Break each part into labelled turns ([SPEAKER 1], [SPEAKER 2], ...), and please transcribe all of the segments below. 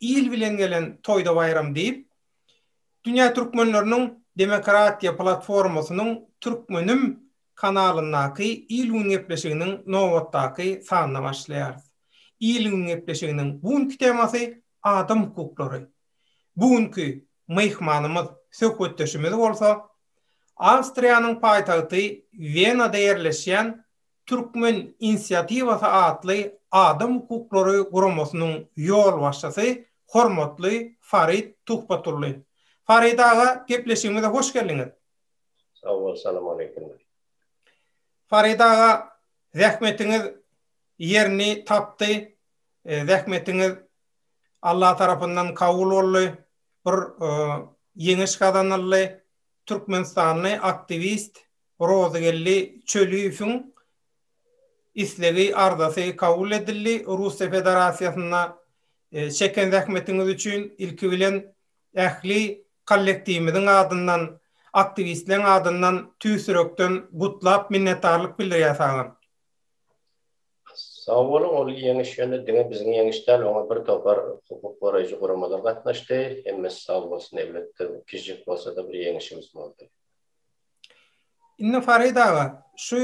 [SPEAKER 1] Il bilen gelen toýda baýram diýip, Dünýä türkmenleriniň demokratiýa platformasynyň Türkmenim kanalyndaky il-gün gepleşiginiň nobatdaky sanyna başlaýarys. Il-gün gepleşiginiň bu günki temasy adam hukuklary. Bu günki myhmanymyz, söhbetdeşimiz bolsa Awstriýanyň paýtagty Wenada ýerleşýän Türkmen inisiatiwasy atly adam hukuklary guramasynyň ýolbaşçysy hormatly Farid Tuhbatully. Farid aga, gepleşigimize hoş geldiňiz. Sag bol,
[SPEAKER 2] salam aleýkum.
[SPEAKER 1] Farid aga, zähmetiňiz ýerini tapdy. Zähmetiňiz Allah tarapyndan kabul boldy. Bir ýeňiş gazanyldy. Türkmenistanly aktiwist Rozygeldi Çöliýewiň islegi, arzasy kabul edildi. Russiýa Federasiýasynda çeken zähmetiňiz üçin ilki bilen ähli kollektiwimiziň adyndan, aktiwistleriň adyndan tüýs ýürekden gutlap, minnetdarlyk bildirýär saňa.
[SPEAKER 2] Sag boluň, ol ýeňiş ýöne diňe biziň ýeňiş däl, oňa bir topar hukuk goraýjy guramalar gatnaşdy. Hemmesi sag bolsun, elbetde, kiçijik bolsa-da bir ýeňişimiz boldy.
[SPEAKER 1] Indi Farid aga, şu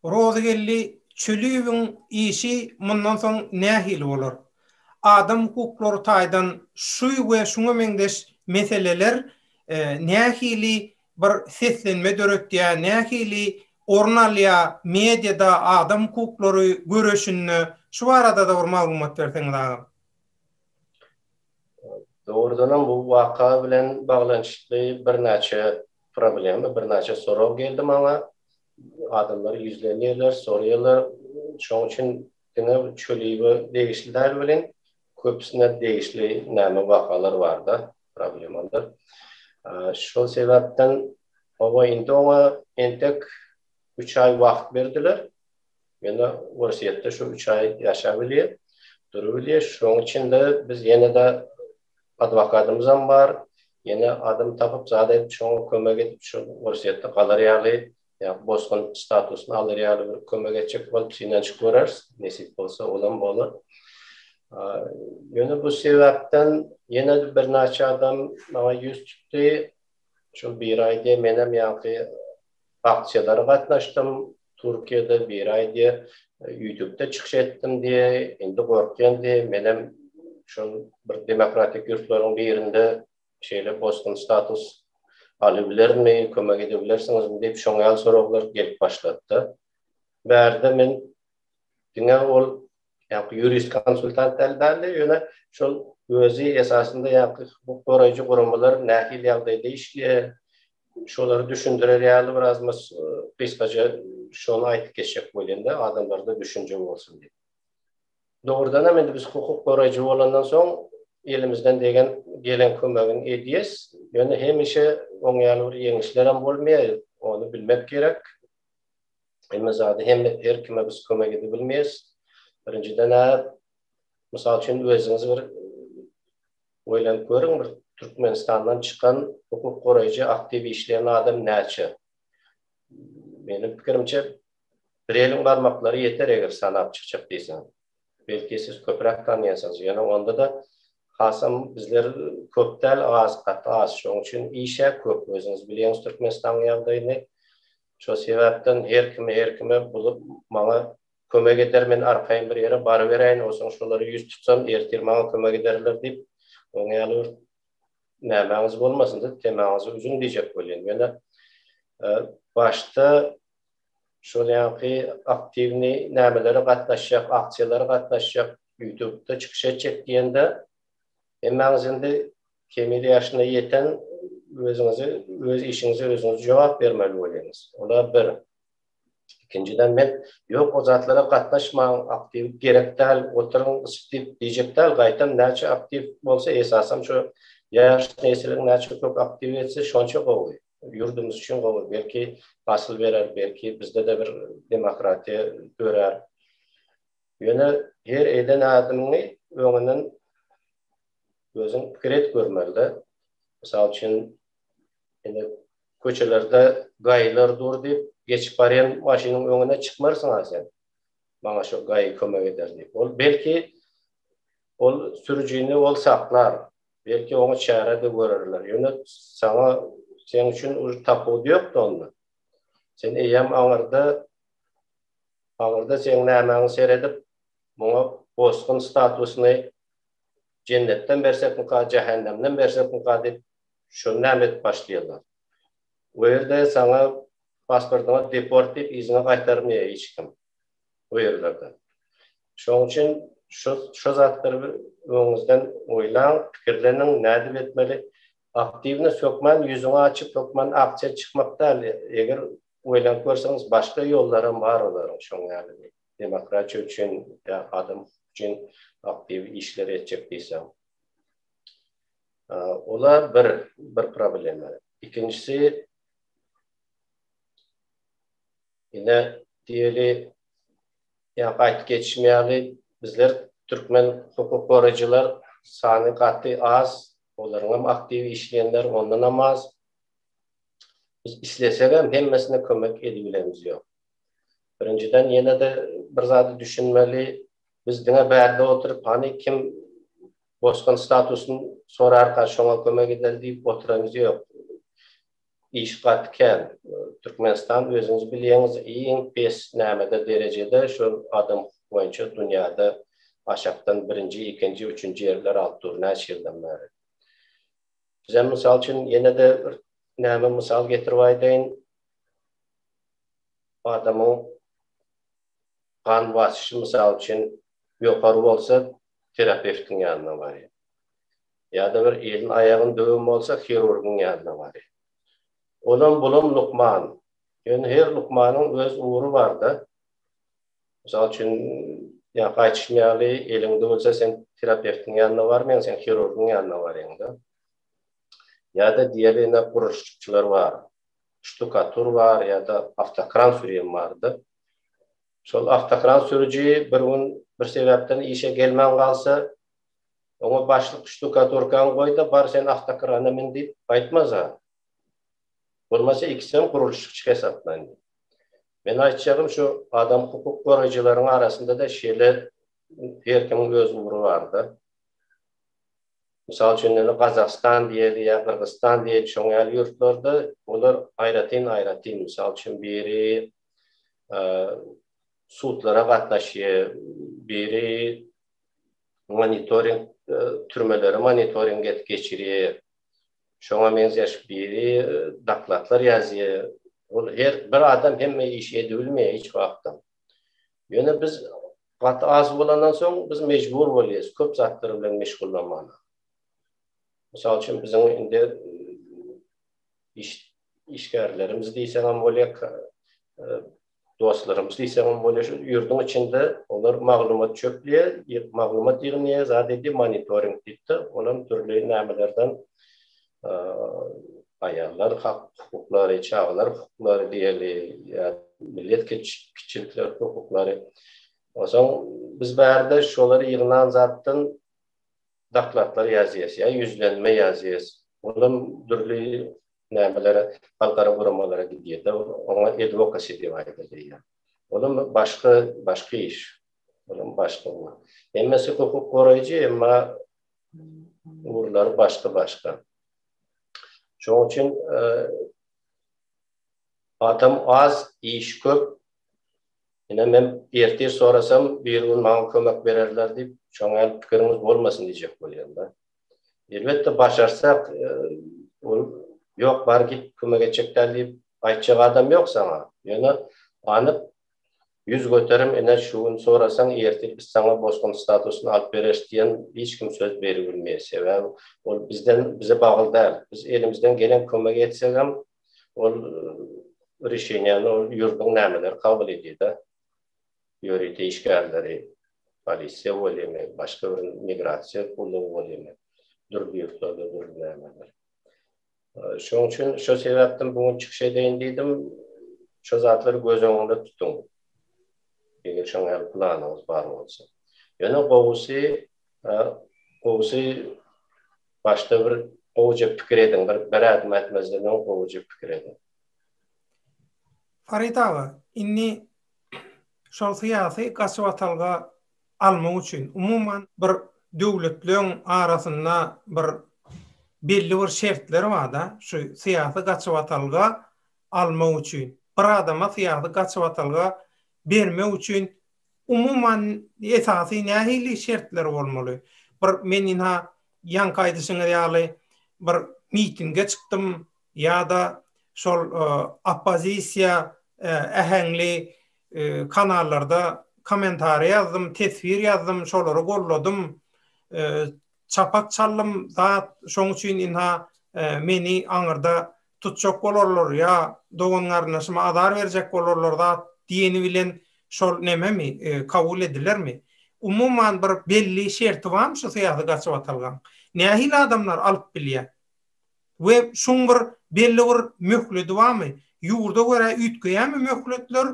[SPEAKER 1] Rozygeldi Çöliýewiň işi mundan soň nähili bolar? Adam hukuklary taýdan şu we şuňa meňzeş meseleler nähili bir seslenme döretýär, nähili orun alýar mediada, adam hukuklary göreşinde? Şu barada-da bir maglumat berseňiz agam.
[SPEAKER 2] Dogrudanam bu waka bilen baglanyşykly birnäçe problema, birnäçe sorag geldi maňa. Adamlar ýüzlenýärler, soraýarlar. Şonuň üçin diňe Çöliýewe degişli däl welin, köpüsine degişli näme wakalar bar-da, problemalar. Şol sebäpden, hawa, indi oňa entek üç aý wagt berdiler. Ýöne Orsýetde şu üç aý ýaşap bilýär, durup bilýär. Şonuň üçin-de biz ýene-de adwokatymyzam bar, ýene adam tapyp, zat edip, şoňa kömek edip, şol Orsýetde galar ýaly, ýa bosgun statusyny alar ýaly bir kömek etjek bolup synanyşyp görers, nesip bolsa, olam bolar. Ýöne bu sebäpden ýene-de birnäçe adam maňa ýüz tutdy. Şol bir aý diýen menem ýaňky aksiýalara gatnaşdym, Türkiýede bir aý diýe ýutubda çykyş etdim diýe, indi gorkýan diýe, menem şol bir demokratik ýurtlaryň birinde şeýle bosgun status alybilermi, kömek edebilersiňizmi diýip şoň ýaly soraglar gelip başlady-da. Bärde men diňe ol ýaňky ýurist konsultant däl bärde ýöne şol özi esasynda ýaňky hukuk goraýjy guramalar nähili ýagdaýda işleýär, Şolary düşündirer ýaly biraz mys gysgaja şony aýdyp geçjek bolýan-da, adamlarda düşünje bolsun diýip. Dogrudanam indi biz hukuk goraýjy bolandan soň elimizden degen gelen kömegini edýäs. Ýöne hemişe oň ýaly bir ýeňişlerem bolmaýar, ony bilmek gerek. Hemme zady hem her kime biz kömek edip bilmeýäs. Birinjiden-ä, mysal üçin, özüňiz bir Oýlanyp görüň bir Türkmenistandan çykan hukuk goraýjy aktiw işleýän adam näçe? Meniň pikirimçe bir eliň barmaklary ýeter eger sanap çykjak diýseň. Belki siz köpräk tanýansyňyz ýöne onda-da hasam bizler köp däl az gaty az şoň üçin işä köp özüňiz bilýäňiz Türkmenistanyň ýagdaýyny şo sebäpden her kimi her kime bulup maňa Kömek eder, men arkaýyn bir ýere baryberäýin, onsoň şolara ýüz tutsam, ertir maňa kömek ederler diýip, oň ýaly bir nämäňiz bolmasyn diýip, temaňyzy üzüň diýjek bolýan. Ýöne başda şol ýaňky aktiwnyý nämelere gatnaşjak, aksiýalara gatnaşjak, ýutubda çykyş etjek diýende, hemmäňiz indi kemil ýaşyna ýeten, özüňizi, öz işiňize özüňiz jogap bermeli bolýaňyz. Ola bir. Ikinjiden men ýok o zatlara gatnaşmaň aktiw gerek däl oturyň spip diýjek däl gaýtam näçe aktiw bolsa esasam şu ýaş nesiliň näçe köp aktiw etse şonça gowy ýurdumyz üçin gowy belki hasyl berer belki bizdede bir demokratiýa dörär ýöne her eden adymyňy öňünden özüň pikir et görmelide mysal üçin indi Köçelerde gaýylar dur diýip, geçip barýan maşynyň öňüne çykmarsyň-a sen. Maňa şo gaýy kömek eder diýip. Ol, belki, ol sürüjini ol saklar. Belki, oňa çäre-de görerler. Ýöne saňa, seň üçin uly tapawudy ýok-da onda. Sen eýýäm aňyrda, aňyrda seň nämäňi seredip, muňa bosgun statusyny jennetden bersekmika, jähennemden bersekmika diýip, Şony näme edip başlaýarlar? O ýerde saňa pasportyňa deport diýip yzyňa gaýtarmaýar hiç kim o ýerlerde. Şoň üçin şu şu zatlary bir öňüňizden oýlaň, pikirleniň nädip etmeli. Aktiwny sökmän ýüzüňi açyp hökman aksiýa çykmak däl. Eger oýlanyp görseňiz başga ýollary hem bar olaryň şoň ýaly demokratiýa üçin ýa adam hukuk üçin aktiw işler etjek diýseň. Ola bir bir problema. Ikinjisi ine diýeli ýa gaýt geçmeýäli bizler türkmen hukuk goraýjylar sany gaty az, olaryň hem aktiw işleýänler ondan hem az. Biz islesek hem hemmesine kömek edibilerimiz ýok. Birinjiden ýene-de bir zady düşünmeli, biz diňe bärde oturyp hany kim Bosgan statusyny sorarka şoňa kömek edeli diýip oturanyz ýok. Iş gaty kän. Türkmenistan özüňiz bilýäňiz iň pes nämede derejede şol adam hukuk boýunça dünýäde aşakdan birinji ikinji üçünji ýerler alyp dur näçe ýyldan bäri. Bizem mysal üçin ýenede bir näme mysal getirip aýdaýyn. Adamyň gan basyşy mysal üçin ýokary bolsa terapewtiň ýanyna barýar. Ýa-da bir elin-aýagyny döwen bolsa hirurgyň ýanyna barýar. Olam bulam lukman. Ýöne her lukmanyň öz ugry barda. Mysal üçin ýa gaýtyşym ýaly eliň döwülse sen terapewtiň ýanyna barmaýaň sen hirurgyň ýanyna barýaňda. Ýa-da diýeli ine gurluşykçylar bar. Ştukatur bar ýa-da awtokran sürýän barda. Şol awtokran sürüji bir gün bir sebäpden işe gelmän galsa, oňa başlyk ştukaturkaňy goý-da, bar sen awtokrana min diýip aýtmasa, bolmasa ikisem gurluşykçy hesaplaýyn. Men aýtjagym şu adam hukuk goraýjylaryň arasynda-da şeýle her kimiň öz ugry bar-da. Mysal üçin indi Gazagystan diýeli ýa Gyrgyzystan diýeli şoň ýaly ýurtlarda olar aýratyn-aýratyn. Mysal üçin biri sudlara gatnaşýar, biri monitoring türmeleri monitoring edip geçirýär. Şoňa meňzeş biri dokladlar ýazýar. Ol her bir adam hemme işi edip bilmeýär hiç wagtam. Ýöne biz gaty az bolandan soň biz mejbur bolýarys köp zatlar bilen meşgullanmaga. Mysal üçin biziň indi iş işgärlerimiz diýseňem bolýar, dostlarymyz diýseňem bolýar, şu ýurduň içinde olar maglumat çöplýär, maglumat ýygnýar, zat edýär, monitoring diýip-de, ol hem dürli nämelerden aýallar hukuklary, çagalar hukuklary diýeli, millet kiçilikler hukuklary. Onsoň biz bärde şolary ýygnan zatdan dokladlar ýazýarys, ýa ýüzlenme ýazýarys. Olam dürli nämelere halkara guramalara gidýärdi. Oňa edwokasy diýip aýdylýar. Olam başga, başga iş. Olam başga bu. Hemmesi hukuk goraýjy, emma ugurlary başga-başga. Şoň üçin adam az, iş köp. Ine men ertir sorasam, birigün maňa kömek bererler diýip, şoňa pikiriňiz bolmasyn diýjek bolýan-da. Elbetde başarsak ol ýok bar git kömek etjek däl diýip aýtjak adam ýok saňa. Ýöne anyk ýüz göterim ine şu gün sorasaň ertir biz saňa bosgun statusyny alyp bereris diýen hiç kim söz beribilmeýär. Sebäbi ol bizden bize bagly däl. Biz elimizden gelen kömegi etsegem ol rişenýäni ol ýurduň nämeleri kabul edýär-de. ýörite işgärleri, polisiýa welin, başga bir migrasiýa gullugy welin, dürli ýurtlarda dürli nämeler. Şonuň üçin şo sebäpden bu gün çykyş edeýin diýdim. Şo zatlary göz öňünde tutuň. Eger şoňa ýaly planyňyz bar bolsa. Ýöne gowusy, gowusy başda bir gowuja pikir ediň, bir bir ädim ätmezden öň gowuja pikir ediň. Farid
[SPEAKER 1] aga, indi şol syýasy gaçybatalga almak üçin, umuman, bir döwletleň arasynda bir belli bir şertler bar-da, şu syýasy gaçybatalga almak üçin. Bir adama syýasy gaçybatalga bermek üçin, umuman, esasy nähili şertler bolmaly? Bir, men ynha, ýaňky aýdyşyňyz ýaly, bir mitinge çykdym, ýa-da şol oppozisiýa äheňli kanallarda kommentariý ýazdym, teswir ýazdym, şolary golladym, çapak çaldym zat, şoň üçin ynha meni aňyrda tutjak bolarlar ýa dogan-garyndaşyma azar berjek bolarlar zat diýeni bilen şol nememi, kabul edilermi? Umuman bir belli şerti barmy şu syýasy gaçybatalgaň? Nähili adamlar alyp bilýär? we şuň bir belli bir möhledi barmy? Ýurda görä üýtgeýärmi möhletler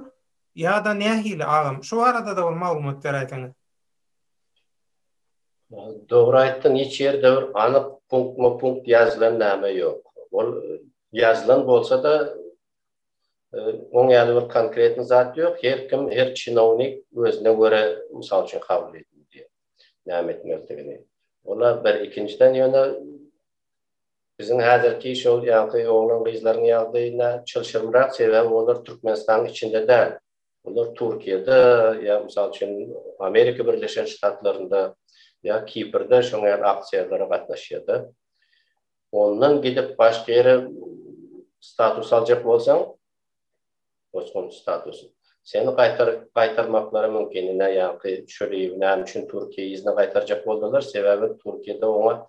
[SPEAKER 1] ýa-da nähili agam? Şu barada-da bir maglumat beräýseňiz.
[SPEAKER 2] Dogry aýtdyň, hiç ýerde bir anyk punktma punkt ýazylan name ýok. Ol ýazylan bolsa-da oň ýaly bir konkretny zat ýok. Her kim, her çinownik özüne görä mysal üçin kabul edilýär näme etmelidigini. Ola bir ikinjiden ýöne Biziň häzirki şol ýaňky oglan-gyzlaryň ýagdaýyna çylşyrymrak, sebäbi olar Türkmenistanyň içinde däl. Olar Türkiýede ýa, mysal üçin, Amerika Birleşen Ştatlarynda ýa Kiprde şoňa ýaly aksiýalara gatnaşýar-da. Ondan gidip başga ýere status aljak bolsaň, bosgun statusy. Seni gaýtarmaklary mümkin. Ine, ýaňky Şöliýewi näme üçin Türkiýä yzyna gaýtarjak boldular? Sebäbi Türkiýede oňa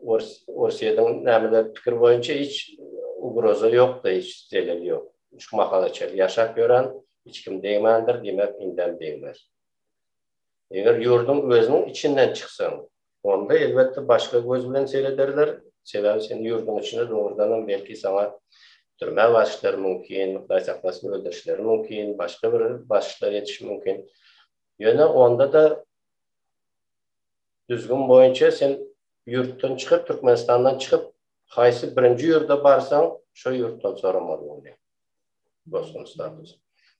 [SPEAKER 2] Orsýetiň nämeler pikir boýunça hiç ugroza ýokdy, hiç zelel ýok. Şu mahala çenli ýaşap ýören, hiç kim degmändir, diýmek indem degmez. Eger ýurduň özüniň içinden çyksaň, onda elbetde başga göz bilen serederler, sebäbi seniň ýurduň içinde dogrudanam belki saňa türmä basişleri mümkin, gaýtaklasyp öldürişleri mümkin, başga bir basişler edişi mümkin. Ýöne onda-da düzgün boýunça sen ýurtdan çykyp, Türkmenistandan çykyp, haýsy birinji ýurda barsaň, şo ýurtdan soramaly bolýar. bosgun statusy.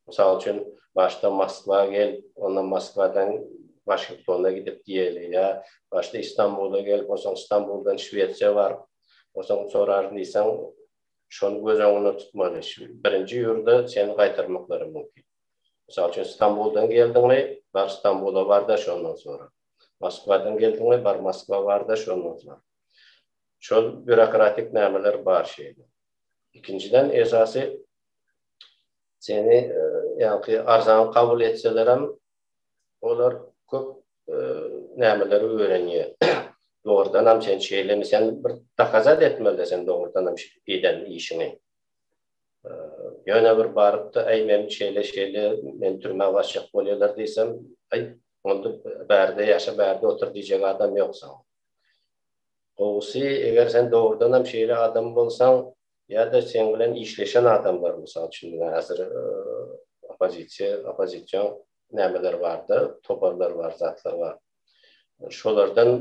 [SPEAKER 2] Mysal üçin, başda Moskwa gel, ondan Moskwadan Waşingtona gidip diýeli ýa başda Istanbula gel, onsoň Istanbuldan Şwesiýa bar, onsoň soraryn diýseň, şony göz öňünde tutmaly. Birinji ýurda seni gaýtarmaklary mümkin. Mysal üçin, Istanbuldan geldiňmi, bar Istanbula bar-da, şondan sora. Moskwadan geldiňmi, bar Moskwa bar-da, şondan sora. Şol býurokratik nämeler bar şeýle. Ikinjiden esasy seni ýaňky arzan kabul etselerem olar köp nämeleri öwrenýär. Dogrudan hem sen şeýlemi sen bir dokazat etmeli sen dogrudan hem eden işiňi. Ýöne bir barypda aý men şeýle şeýle men türmä başjak bolýarlar diýsem aý onda bärde ýaşa bärde otur diýjek adam ýok saňa. Gowusy, eger sen dogrudanam şeýle adam bolsaň, ýa-da seň bilen işleşen adamlar, mysal üçin, diňe häzir oppozisiýa, oppozision nämeler bar-da, toparlar bar, zatlar bar. Şolardan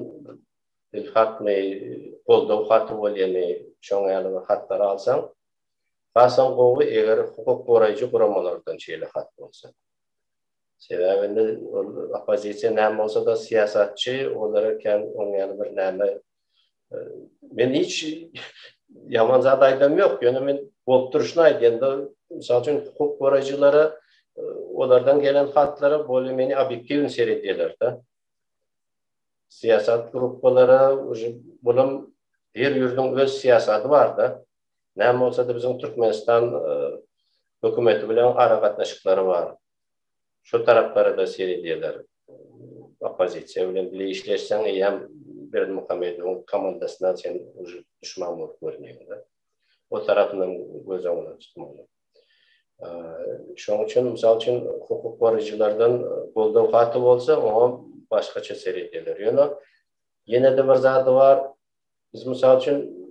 [SPEAKER 2] ilhatmy, goldaw haty bolýamy, şoň ýaly bir hatlary alsaň, hasam gowy, eger hukuk goraýjy guramalardan şeýle hat bolsa. Sebäbi indi ol oppozisiýa näme bolsa-da syýasatçy, olara kän oň ýaly bir näme Men hiç ýaman zat aýdam ýok, ýöne men bolup durşuny aýdýan-da, mysal üçin hukuk goraýjylara olardan gelen hatlara bolýa meni obýektiwny seredýärler-de. Syýasat gruppalara uji bulam her ýurduň öz syýasaty bar-da. Näme bolsada biziň Türkmenistan hökümeti bilen aragatnaşyklary bar. Şo taraplara-da seredýärler. Oppozisiýa bilen bile işleşseň eýýäm Berdimuhamedowyň komandasyna sen uje duşman bolup görünýäňdä. O tarapynam göz öňünde tutmaly. Şonuň üçin, mysal üçin, hukuk goraýjylardan goldaw haty bolsa, oňa başgaça seredýärler. Ýöne ýene-de bir zady bar, Biz mysal üçin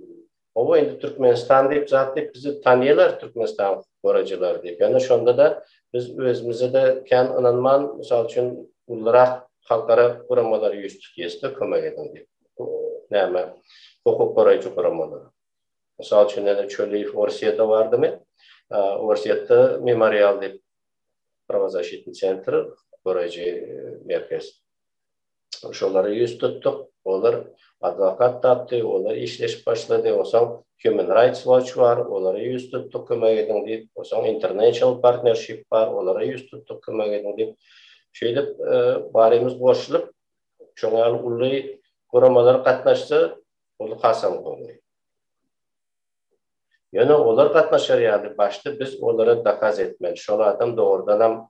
[SPEAKER 2] Oba indi Türkmenistan diýip zat diýip bizi tanýarlar Türkmenistan gorajylary diýip. Ýöne şonda da biz özümize de kän ynanman, mysal üçin ulurak halkara guramalary ýüz tutýasda kömek ediň diýip. Näme hukuk goraýjy guramalary. Mysal üçin näde Çöliýew Orsiýada bardymy? Orsiýada memorial diýip Prawozasitni sentr goraýjy merkez. şolara ýüz tutduk. Olar adwokat tapdy, olar işleşip başlady. Osaň Human Rights Watch bar, olara ýüz tutduk, kömek ediň diýip. Osaň International Partnership bar, olara ýüz tutduk, kömek ediň diýip. Şeýdip, barymyz goşulyp, şoň ýaly uly guramalar gatnaşsa, ol hasam gowy. Ýöne olar gatnaşar ýaly, başda biz olara dokaz etmeli, şol adam dogrudanam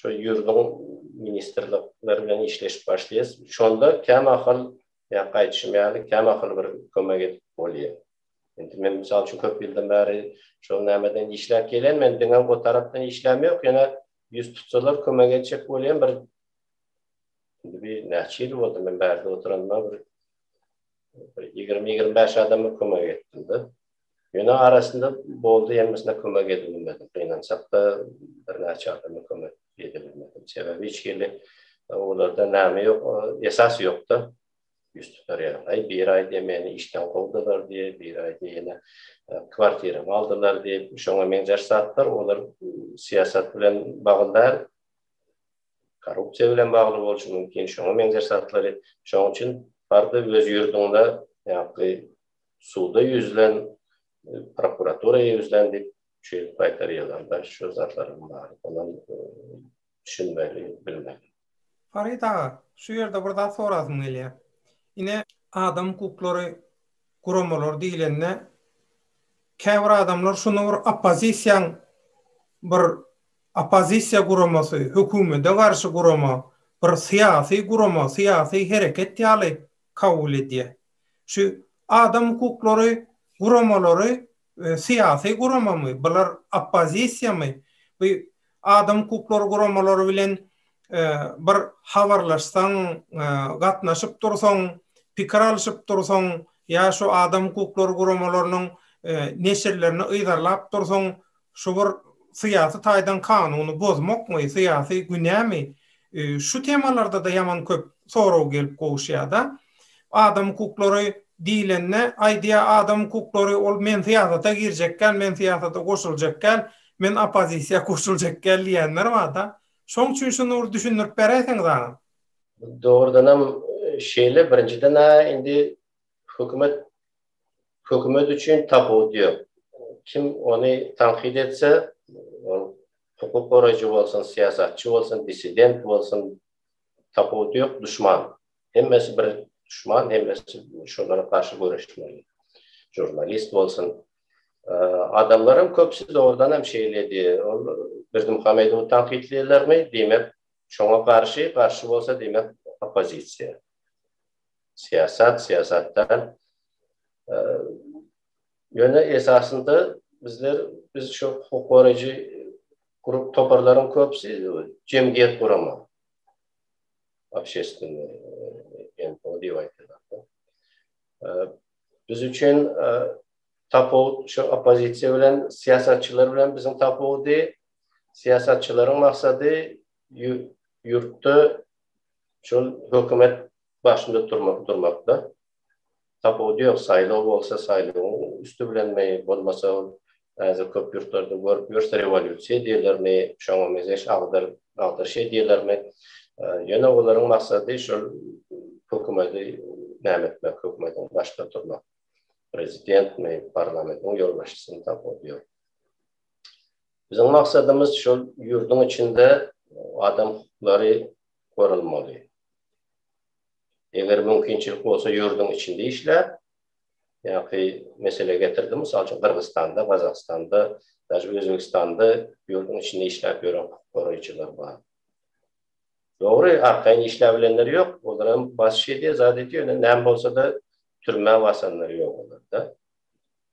[SPEAKER 2] şu ýürdüň ministrlikleri bilen işleşip başlaýas. Şonda kämahal ýa gaýdyşym ýaly kämahal bir kömek edip bolýa. Indi men mysal üçin köp ýyldan bäri şol nämeden işläp gelýän, men diňe o tarapdan işläm ýok, ýöne ýüz tutsalar kömek etjek bolýan bir indi bir näçe ýyl boldy men bärde oturanyma bir ýigrimi-ýigrimi bäş adama kömek etdim-de. Ýöne arasynda boldy, hemmesine kömek edip bilmedim. Gynansak-da, birnäçe adama kömek edip bilmedim. Sebäbi hiç hili olarda näme ýok, esas ýok-da. Ýüz tutar ýaly. Aý, biri aýdýar, meni işden kowdular diýip, biri aýdýar, ýene kwartiramy aldylar diýip, şoňa meňzeş zatlar, olar syýasat bilen bagly däl, korrupsiýa bilen bagly bolşy mümkin, şoňa meňzeş zatlary. Şonuň üçin bardy öz ýurduňda ýa-da suda ýüzlen, prokuratura ýüzlen diýip, şu ýyl paýtara ýazanda şu zatlaryň baryna düşünmeli, bilmeli. Farid aga,
[SPEAKER 1] şu ýerde bir zat sorasym gelýär. Ine, adam hukuklary guramalary diýlende, käbir adamlar şuny bir oppozisiýaň bir oppozisiýa guramasy, hökümede garşy gurama, bir syýasy gurama, syýasy hereket ýaly kabul edýär. Şu adam hukuklary guramalary syýasy guramamy, bular oppozisiýamy, bu adam hukuklary guramalary bilen bir habarlaşsaň, gatnaşyp dursaň, pikir alşyp dursaň ýa şu adam hukuklary guramalarynyň neşirlerini yzarlap dursaň, Şu bir syýasy taýdan kanuny bozmakmy, syýasy günämi, şu temalarda-da ýaman köp sorag gelip gowuşýar-da. Adam hukuklary diýlende, aýdýar, adam hukuklary ol men syýasata girjek däl, men syýasata goşuljak däl, men oppozisiýa goşuljak däl diýenler bar-da. Şoň üçin şuny bir düşündirip beräýseňiz agam. Dogrudanam
[SPEAKER 2] şeýle, birinjiden-ä indi Hökümet hökümet üçin tapawut ýok. Kim ony tankyt etse, ol hukuk goraýjy bolsun, syýasatçy bolsun, dissident bolsun, tapawudy ýok, duşman. Hemmesi bir duşman, hemmesi şolara garşy göreşmeli. Žurnalist bolsun, adamlaryň köpüsi dogrudan hem şeýledi. Ol Berdimuhamedowy tankytlaýarlarmy? Diýmek, şoňa garşy, garşy bolsa diýmek oppozisiýa. syýasat, syýasat däl. Ýöne esasynda bizler biz şu hukuk goraýjy grup toparlaryň köpüsi jemgyýet guramak. Obşestwne NPO diýip aýdýarlar. Biz üçin tapawut şu oppozisiýa bilen syýasatçylar bilen biziň tapawudy syýasatçylaryň maksady ýurtda Şol hökümet başynda turmak durmakda tapawudy ýok. Saýlaw bolsa saýlawyň üsti bilenmi, bolmasa ol häzir köp ýurtlarda görüp ýörse rewolýusiýa diýerlermi, şoňa mezeş agdyr, agdyr şeý diýerlermi. Ýöne olaryň maksady şol hökümeti näme etmek, hökümetiň başynda turmak. Prezidentmi, parlamentiň ýolbaşçysymy tapawudy ýok. Biziň maksadymyz şol ýurduň içinde adam hukuklary goralmaly. Eger mümkinçilik bolsa ýurduň içinde işläp, ýa-ki mesele getirdim, mysal üçin Gyrgyzystanda, Gazagystanda, daşy Özbegistanda ýurduň içinde işläp ýören hukuk goraýjylar bar. Dogry, arkaýyn işläp bilenler ýok, olar hem basyş edýär, zat edýär, ýöne näme bolsa-da türmä basanlar ýok olarda.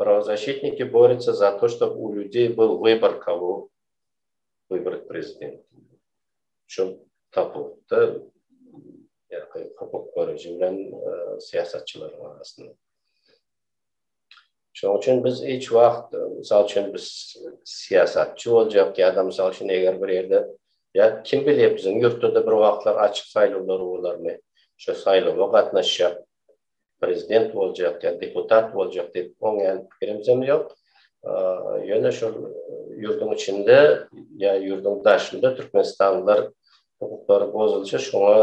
[SPEAKER 2] Prawozashitniki borýaça za to što u ljudjej bil wybor kogo wybrat prezident üçin tapawutda ýa-da hukuk goraýjy bilen syýasatçylaryň arasynda şoň üçin biz hiç wagt mysal üçin biz syýasatçy boljak ýa-da mysal üçin eger bir ýerde ýa kim bilýär biziň ýurtda-da bir wagtlar açyk saýlawlar bolarmy şo saýlawa gatnaşjak prezident boljak ýa deputat boljak diýip oňýan pikirimizem ýok. Ýöne şol ýurduň içinde ýa ýurduň daşynda türkmenistanlylar hukuklary bozulsa şoňa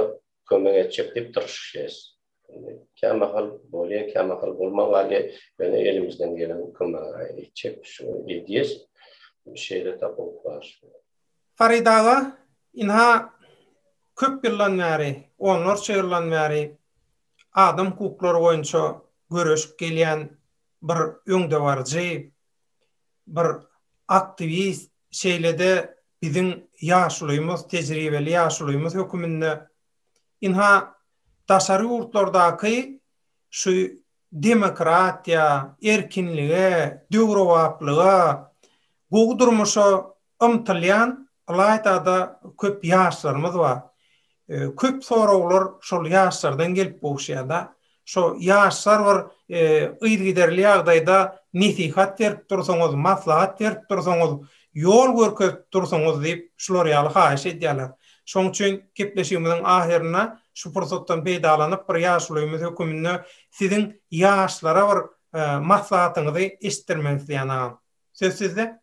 [SPEAKER 2] kömek etjek diýip tyrşyşýas. Indi kämahal bolýa, kämahal bolman galýa. Ýöne elimizden gelen kömegi etjek, şuny edýäs. Şeýle tapawut bar. Farid aga,
[SPEAKER 1] ynha, köp ýyldan bäri, onlarça ýyldan bäri adam hukuklary boýunça göreşip gelýän bir öňdebaryjy, bir aktiwist, şeýle-de biziň ýaşulymyz, tejribeli ýaşulymyz höküminde, ynha, daşary ýurtlardaky şu demokratiýa, erkinlige, döwrebaplyga, gowy durmuşa Ymtylýan ylaýta-da köp ýaşlarymyz bar. Köp soraglar şol ýaşlardan gelip gowuşýar-da. Şo ýaşlar bir yzygiderli ýagdaýda nesihat berip dursaňyz, maslahat berip dursaňyz, ýol görkezip dursaňyz diýip, şular ýaly haýyş edýärler. Şonuň üçin gepleşigimiziň ahyrynda şu pursatdan peýdalanyp, bir ýaşulymyz höküminde siziň ýaşlara bir maslahatyňyzy eşitdirmek isleýän agam. Söz sizde.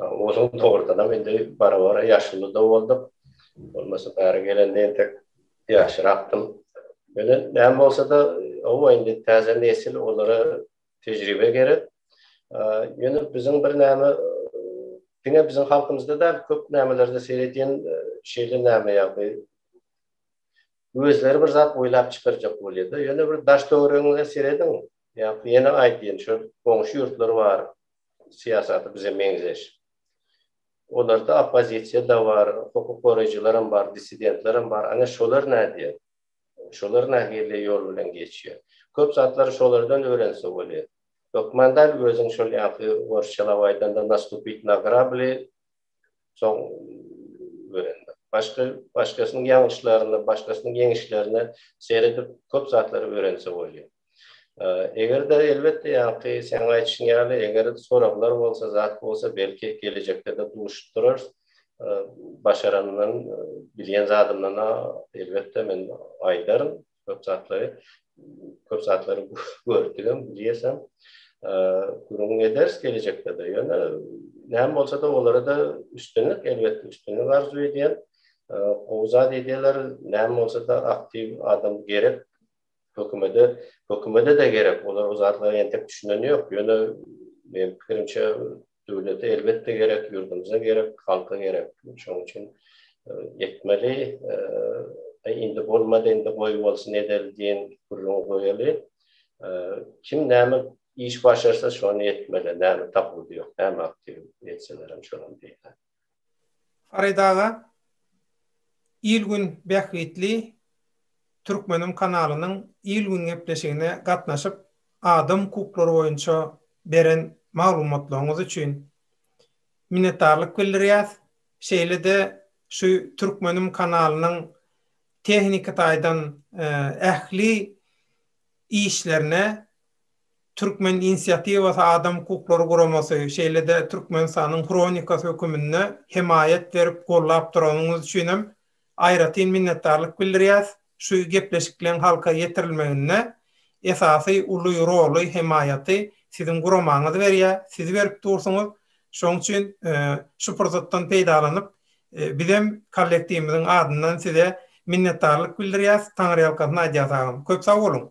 [SPEAKER 2] Onuň torunam indi bara-bara ýaşuly-da bolduk. Bolmasa bäri gelende entek ýaşyrakdym. Ýöne näme bolsa-da, hawa, indi täze nesil, olara tejribe gerek. Ýöne biziň birnäme, diňe biziň halkymyzda däl, köp nämelerde seredýän şeýle näme ýagdaý, özleri bir zat oýlap çykarjak bolýar-da. Ýöne bir daş-töweregiňize serediň, Ýa-da ýene aýtyn, şu goňşy ýurtlar bar, syýasaty bize meňzeş. Olarda oppozisiýa-da bar, hukuk goraýjylaram bar, dissidentlerem bar. Ana, şolar nädýär? Şolar nähili ýol bilen geçýär? Köp zatlary şolardan öwrense bolýar. Hökman däl, özüň şol ýaňky orsçalap aýdanda nastupit na grabli, Soň öwrendim. Başga başgasynyň ýalňyşlaryna, başgasynyň ýeňişlerine seredip köp zatlary öwrense bolýar. Eger-de elbetde ýaňky seň aýdyşyň ýaly eger soraglar bolsa, zat bolsa belki gelejekde-de duşup durarys. Başarandan, bilýän zadymdan elbetde men aýdaryn. köp zatlary, köp zatlary gördügem, diýesem, gürrüň ederis gelejekde-de. Ýöne näme bolsa-da, olara-da üstünlik, elbetde, üstünlik arzuw edýän. Gowy zat edýärler, näme bolsa-da, aktiw adam gerek. Hökümede, hökümede-de gerek. Olar o zatlara entek düşüneni ýok. Ýöne, meň pikirimçe, Döwlete elbetde gerek, ýurdumyza gerek, halka gerek. Şonuň üçin etmeli. Indi bolmady, indi goý bolsun edeli diýen gürrüňi goýaly. Kim näme iş başarsa şony etmeli. Näme tapyldy ýok, näme aktiw etselerem şonuň diýen. Farid
[SPEAKER 1] aga, Il-gün bähbitli Türkmenim kanalynyň Il-gün gepleşigine gatnaşyp, adam hukuklary boýunça beren maglumatlaryňyz üçin minnetdarlyk bildirýäs. Şeýle-de şu Türkmenim kanalynyň tehniki taýdan ähli işlerine Türkmen inisiatiwasy adam hukuklary guramasy, şeýle-de Türkmenistanyň Hronikasy höküminde hemaýat berip gollap duranyňyz üçinem aýratyn minnetdarlyk bildirýäs, şu gepleşikleň halka ýetirilmeginde esasy uly roly, hemaýaty siziň guramaňyz berýär, siz berip dursuňyz, şoň üçin şu pursatdan peýdalanyp bizem kollektiwimiziň adyndan size minnetdarlyk bildirýäs, taňryýalkasyn aýdýas agam.
[SPEAKER 2] Köp sag
[SPEAKER 1] boluň!